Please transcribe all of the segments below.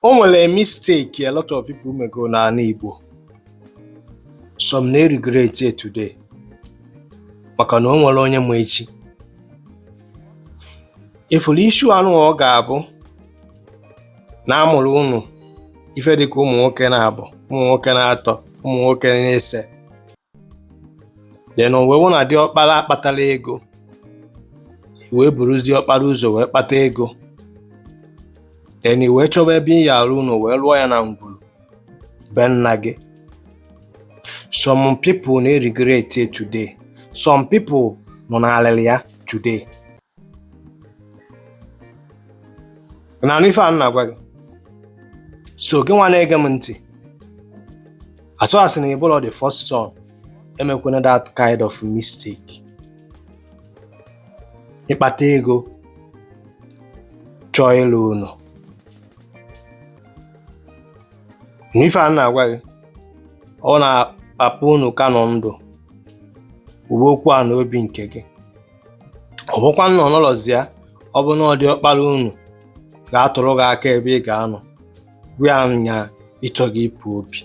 o nwere mistake a lot of people mego n'ala Igbo some na-regret it today maka na o nwerọ onye ma echi ifuru issue anụ ọ ga-abụ na amụrụ unu ife dịka ụmụ nwoke na-abọ ụmụ nwoke na-atọ ụmụ nwoke na-ise then o wee wụ na diọkpara akpatarọ ego i wee buruzi diọkpara ụzọ wee kpata ego then i wee chọba ebe ị ya-arụ ụnọ wee lụọ ya na ngwuru be nna gị some people na-regret it today some people nọ n'alịlị ya today na-anụ ife a m na-agwa gị so gị nwa na-ege m ntị as far as na ị bụlọ the first son emekwana that kind of mistake ị kpata ego chọọ ịlụ ụnọ na ife a m na-agwa gị ọ bụ na papa unu ka nọ ndụ uwe okwu a na obi nke gị ọ bụkwa na ọ nọlọzi ya ọ bụ na ọ diọkpara unu ga-atụrụ gị aka ebe ị ga-anọ gwa ya na ị chọgo ịpụ obi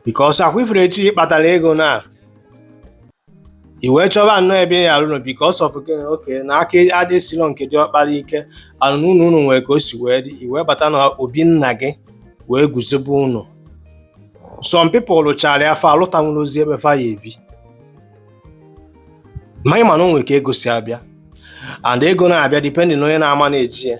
because akwa ifuru etu ị kpatara ego na i wee chọba nnọọ ebe ị ya-arụ because of gịnị okay na aka adịsirọ nke diọkpara ike ana ụnọ unu nwere ka o si wee dị i wee bata na obi nna gị wee guzobe ụnọ some people lụchara ya fa alụtanwurọzi ebe fa ya-ebi ma ị ma na o nwere ka ego si abịa and ego na-abịa depending na onye na-ama na-eji ya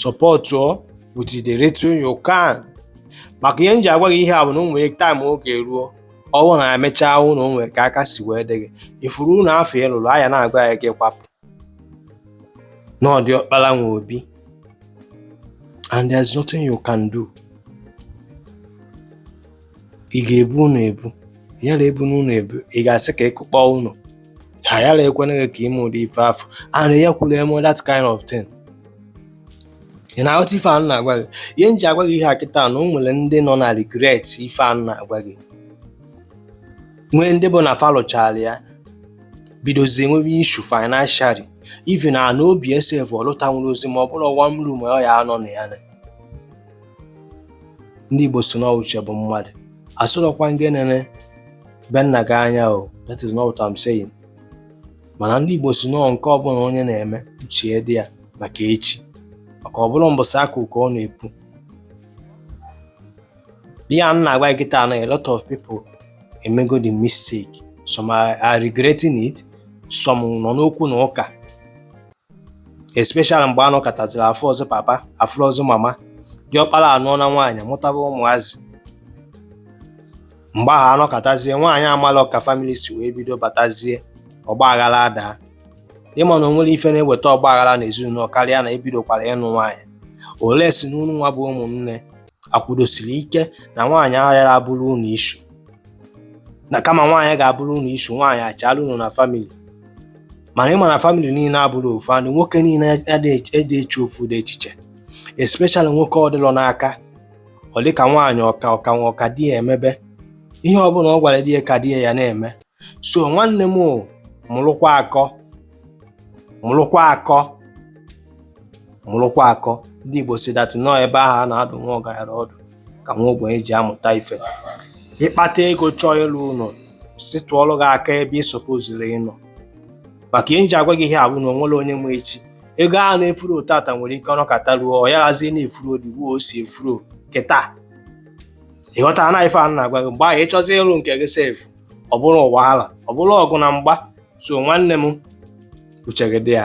supportụọ with the little you can maka ihe m ji agwa gị ihe a bụ na o nwere time ọ ga-eru ọ bụ na emechaa nụ o nwere ka aka si wee dị gị ifuru ụnọ afụ ị lụrụ a ya na-agwa gị kwapụ na ọ diọkpara nwe obi and there's nothing you can do ị ga-ebu ụnọ ebu yarọ ebu nụ ụnọ ebu ị ga-asị ka ị kụkpọ ụnọ ha yarọ ekwena gị ka i mee ụdị ife afụ and ya kwuru eme that kind of thing ị na-aghọta ife a m na-agwa gị ihe m ji agwa gị ihe a kịta na o nwere ndị nọ na regret ife a m na-agwa gị nwee ndị bụ na fa lụchara ya bidozie nwebe issue financially even na obi sef ọ lụtanwurọzi ma ọ bụrụ one room ọ ya-anọ na ya na ndị Igbo sị na ọ uche bụ mmadụ asịrọkwa m gị enene be nna gị anya o that is not what I'm saying mana ndị Igbo sị na ọ nke ọbụla onye na-eme uche dị ya maka echi maka ọ bụrọ mbọsị a kụ ka ọ na-epu ihe a m na-agwa gị kịta na a lot of people emego the mistake some are regretting it some nọ n'okwu na ụka especially mgbe anọkataziri afụrọzi papa afụrọzi mama diọkpara anụọna nwaanyị mụtaba ụmụazị mgbe ahụ anọkatazie nwaanyị amalọ ka family si wee bido batazie ọgba aghara adaa ịma na onwerọ ife na-eweta ọgba aghara na ezinụlọ karịa na ebidokwara ịnụ nwaanyị unless n'unu nwa bụ ụmụnne akwụdosiri ike na nwaanyị aghara abụrụ unu issue na kama nwaanyị ga-abụrụ unu issue nwaanyị achaala unu na family mana ịma na family niile abụrọ ofu and nwoke niile adịghị eche ofu ụdị echiche especially nwoke ọ dịlọ n'aka ọ dị ka nwaanyị ọka ọka nwa ọka di ya emebe ihe ọbụla ọ gwara di ya ka di ya ya na-eme so nwanne m mụrụkwa akọ mụrụkwa akọ ndị Igbo si that na ọ ebe ahụ a na-adụ nwa ọgaranya ọdụ ka nwa ogbenye ji amụta ife ịkpata ego chọọ ịlụ ụlọ si tụọlụ gị aka ebe ị suppoziri ịnọ maka ihe nji agwa gị ihe a bụ na onwerọ onye ma echi ego a na-eflow tata nwere ike ọ nọkata ruo ọ yarazie na-eflow ụdị o si eflow kịta ịghọtara na ife a na-agwa gị mgbe ahụ ịchọzi ịrụ nke gị sef ọ bụrụ wahala ọ bụrụ ọgụ na mgba so nwanne m uche gị dị ya